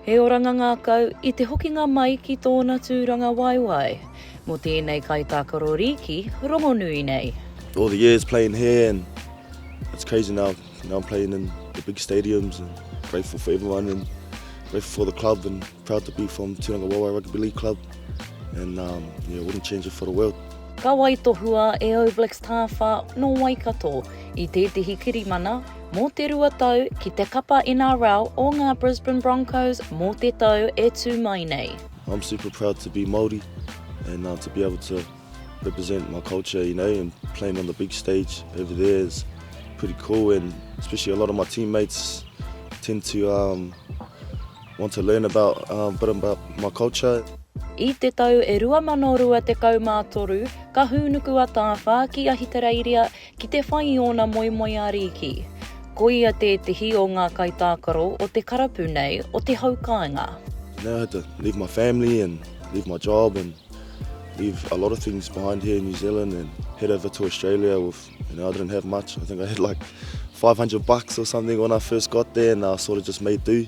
He oranga ngākau i te hokinga mai ki tōna tūranga waewae mō tēnei kaitākaro rīki rongonui nei. All the years playing here and it's crazy now, now I'm playing in the big stadiums and grateful for everyone and grateful for the club and proud to be from Tūranga Waewae Rugby League Club and um, yeah, wouldn't change it for the world. Ka waitohua e All Blacks Tāwha nō Waikato i tētehi kirimana mō te rua tau ki te kapa NRL o ngā Brisbane Broncos mō te tau e tū mai nei. I'm super proud to be Māori and uh, to be able to represent my culture, you know, and playing on the big stage over there is pretty cool and especially a lot of my teammates tend to um, want to learn about uh, a bit about my culture. I te tau e 2023, ka hūnuku a Tāwha ki Ahitereiria Ki te whai i ōna moemoeā rīki. Ko ia tētehi o ngā kaitākaro o te karapu nei o te hau kāinga. Now I had to leave my family and leave my job and leave a lot of things behind here in New Zealand and head over to Australia with, you know, I didn't have much, I think I had like 500 bucks or something when I first got there and I sort of just made do.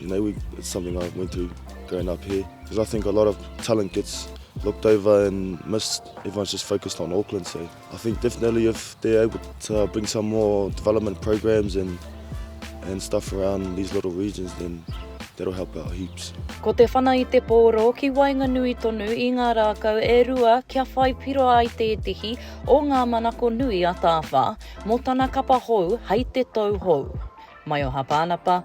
Maybe it's something I went through growing up here. Because I think a lot of talent gets looked over and missed. Everyone's just focused on Auckland. So I think definitely if they're able to bring some more development programs and and stuff around these little regions, then that'll help out heaps. Ko te whana i te pōro ki waenganui tonu i ngā rākau e rua kia whai piro ai tētehi o ngā manako nui a Tāwha mō tana kapa hou hei te tou hou. Mai o Hapa Anapa,